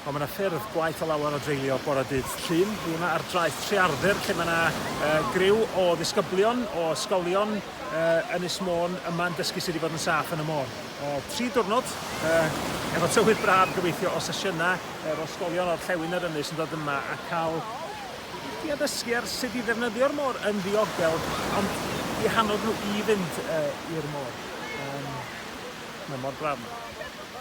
Ond mae yna ffyrdd gwaeth o lawer o dreulio bore dydd Llun. Dwi yma ar draeth Trearthur lle mae yna uh, griw o ddisgyblion o ysgolion uh, Ynys Môn yma'n dysgu sut i fod yn saff yn y môr. Uh, tri diwrnod uh, efo tywydd braf gobeithio o sesiynau yr ysgolion o'r llewyn yr ynys yn dod yma a cael i addysgu ar sut i ddefnyddio'r môr yn ddiogel, ond i hannog nhw i fynd uh, i'r môr. Um, mae mor braf.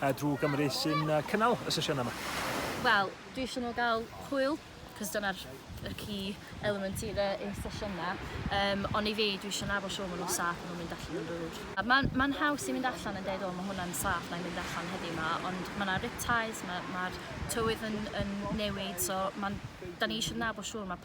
a drwy Gymru sy'n cynnal y sesiynau yma? Wel, dwi eisiau nhw gael hwyl, cos dyna'r y key element i'r uh, sesiynau. Um, ond i fi, dwi eisiau nhw efo siw maen nhw'n saff, nhw'n mynd allan yn rŵr. Mae'n ma haws i mynd allan yn dweud, o, mae hwnna'n saff, na i mynd allan heddiw yma, ond mae yna riptides, mae'r ma tywydd yn, yn newid, so da ni eisiau nabod siwr mae